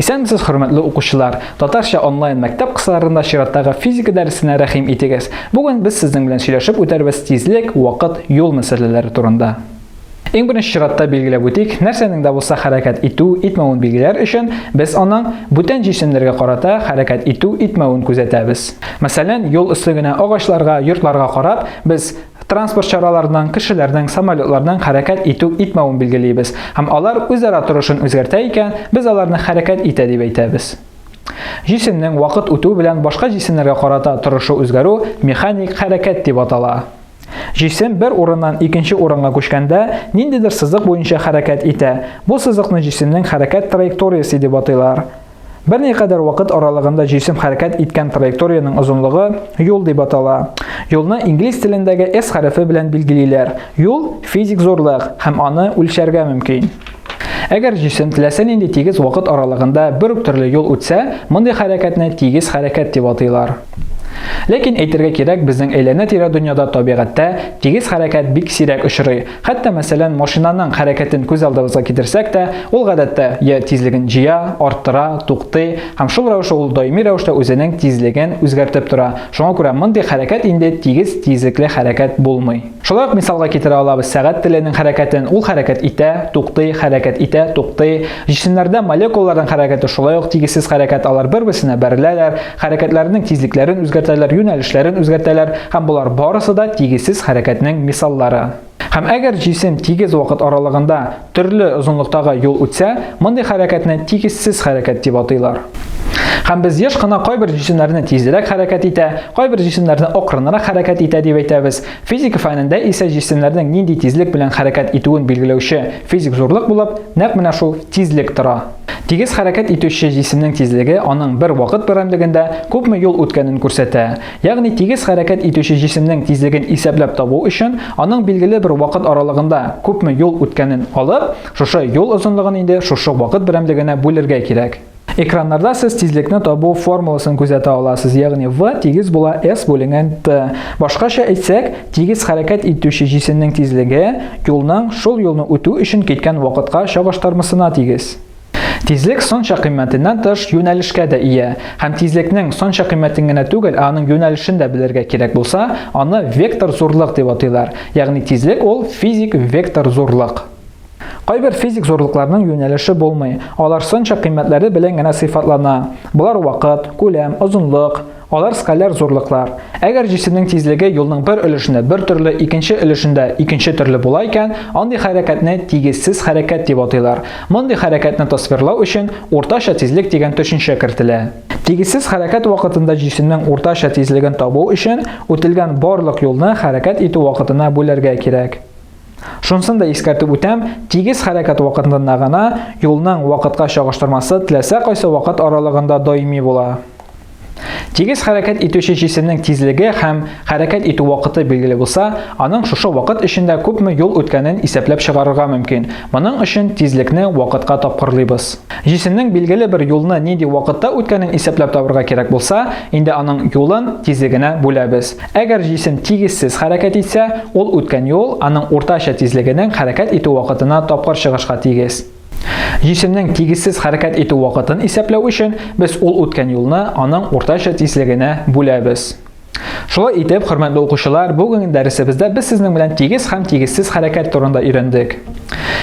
Исәнмесез, хөрмәтле укучылар! Татарча онлайн мәктәп кысаларында чираттагы физика дәресенә рәхим итегез. Бүген без сезнең белән сөйләшеп үтәрбез тизлек, вакыт, юл мәсьәләләре турында. Иң беренче чиратта билгеләп үтик, нәрсәнең дә булса хәрәкәт итү, итмәвен билгеләр өчен без аның бүтән җисемнәргә карата хәрәкәт итү, итмәвен күзәтәбез. Мәсәлән, юл өсте генә агачларга, йортларга карап, без Транспорт чараларының, кешеләрнең, самолетларның хәрәкәт итү-итмәвен билгелибез һәм алар үзара торышын үзгәртә икән, без аларны хәрәкәт итә дип әйтәбез. Җисемнең вакыт үтү белән башка җисемнәргә карата торышы үзгәрү механик хәрәкәт дип атала. Җисем бер урыннан икенче урынга күчкәндә, ниндидер сызык буенча хәрәкәт итә, бу сызыкны җисемнең хәрәкәт траекториясе дип атыйлар. Берникадәр вакыт аралыгында җисем хәрәкәт иткән траекториянең озынлыгы юл дип атала. Юлны инглиз телендәге S хәрефе белән билгелиләр. Юл физик зурлык һәм аны үлчәргә мөмкин. Әгәр җисем теләсә нинди тигез вакыт аралыгында бер үк төрле юл үтсә, мондый хәрәкәтне тигез хәрәкәт дип атыйлар. Ләкин әйтергә кирәк, безнең әйләнә-тирә дөньяда табигатьтә тигез хәрәкәт бик сирәк очрый, Хәтта мәсәлән машинаның хәрәкәтен күз алдыбызга китерсәк тә, ул гадәттә я тизлеген җыя, арттыра, туктый һәм шул рәвешле ул даими рәвештә үзенең тизлеген үзгәртеп тора. Шуңа күрә мондый хәрәкәт инде тигез тизлекле хәрәкәт булмый. Шулай ук мисалга китерә алабыз сәгать теленең хәрәкәтен. Ул хәрәкәт итә, туктый, хәрәкәт итә, туктый. Җисемнәрдә молекулаларның хәрәкәте шулай ук тигезсез хәрәкәт, алар бер-берсенә бәреләләр, Хәрәкәтләренең тизлекләрен үзгәртәләр, юнәлешләрен үзгәртәләр һәм болар барысы да тигезсез хәрәкәтнең мисаллары. Һәм әгәр җисем тигез вакыт аралыгында төрле озынлыктагы юл үтсә, мондый хәрәкәтне тигезсез хәрәкәт дип атыйлар. Һәм без еш кына кайбер җисемнәрне тизрәк хәрәкәт итә, кайбер җисемнәрне акрынрак хәрәкәт итә дип әйтәбез. Физика фәнендә исә җисемнәрнең нинди тизлек белән хәрәкәт итүен билгеләүче физик зурлык булып нәкъ менә шул тизлек тора. Тигез хәрәкәт итүче җисемнең тизлеге аның бер вакыт берәмлегендә күпме юл үткәнен күрсәтә. Ягъни тигез хәрәкәт итүче җисемнең тизлеген исәпләп табу өчен, аның билгеле бер вакыт аралыгында күпме юл үткәнен алып, шушы юл озынлыгын инде шушы вакыт берәмлегенә бүлергә кирәк. Экраннарда сез тизлекне табу формуласын күзәтә аласыз, ягъни v тигез була s бүленгән t. Башкача әйтсәк, Тигез хәрәкәт итүче җисемнең тизлеге юлның шул юлны үтү өчен киткән вакытка чагыштырмысына тигез. Тизлек санча кыйммәтеннән тыш юнәлешкә дә ия, һәм тизлекнең санча кыйммәтен генә түгел, ә аның юнәлешен дә белергә кирәк булса, аны вектор зурлык дип атыйлар, ягъни тизлек ул физик вектор зурлык. Кайбер физик зурлыкларның юнәлеше булмый, алар сынча кыйммәтләре белән генә сыйфатлана. Болар вакыт, күләм, озынлык. Алар скаляр зурлыклар. Әгәр җисемнең тизлеге юлның бер өлешендә бер төрле, икенче өлешендә икенче төрле була икән, андый хәрәкәтне тигезсез хәрәкәт дип атыйлар. Мондый хәрәкәтне тасвирлау өчен уртача тизлек дигән төшенчә кертелә. Тигезсез хәрәкәт вакытында җисемнең уртача тизлеген табу өчен үтелгән барлык юлны хәрәкәт итү вакытына бүләргә кирәк. Шунсын да искәртеп үтәм, тигез хәрәкәт вакытында гына юлның вакытка чагыштырмасы теләсә кайсы вакыт аралыгында даими була. Тигез хәрәкәт итүче җисемнең тизлеге һәм хәрәкәт итү вакыты билгеле булса, аның шушы вакыт эчендә күпме юл үткәнен исәпләп чыгарырга мөмкин. Моның өчен тизлекне вакытка тапкырлыйбыз. Җисемнең билгеле бер юлны нинди вакытта үткәнен исәпләп табырга кирәк булса, инде аның юлын тизлегенә бүләбез. Әгәр җисем тигезсез хәрәкәт итсә, ул үткән юл аның уртача тизлегенең хәрәкәт итү вакытына тапкыр чыгышка тигез. Җисемнең тигезсез хәрәкәт итү вакытын исәпләү өчен без ул үткән юлны аның уртача тизлегенә бүләбез. Шулай итеп, хөрмәтле укучылар, бүгенге дәресебездә без сезнең белән тигез һәм тигезсез хәрәкәт турында өйрәндек.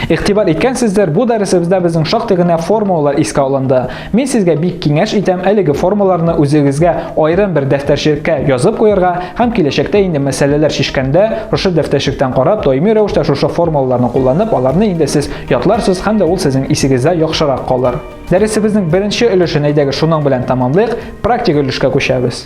Игътибар иткәнсездер, бу дәресебездә безнең шактый гына формулалар искә алынды. Мин сезгә бик киңәш итәм әлеге формулаларны үзегезгә аерым бер дәфтәрчеккә язып куярга һәм киләчәктә инде мәсьәләләр шешкәндә, шушы дәфтәрчектән карап, даими рәвештә шушы формулаларны кулланып, аларны инде сез ятларсыз һәм дә ул сезнең исегездә яхшырак калыр. Дәресебезнең беренче өлешен әйдәгез шуның белән тәмамлыйк, практик өлешкә күчәбез.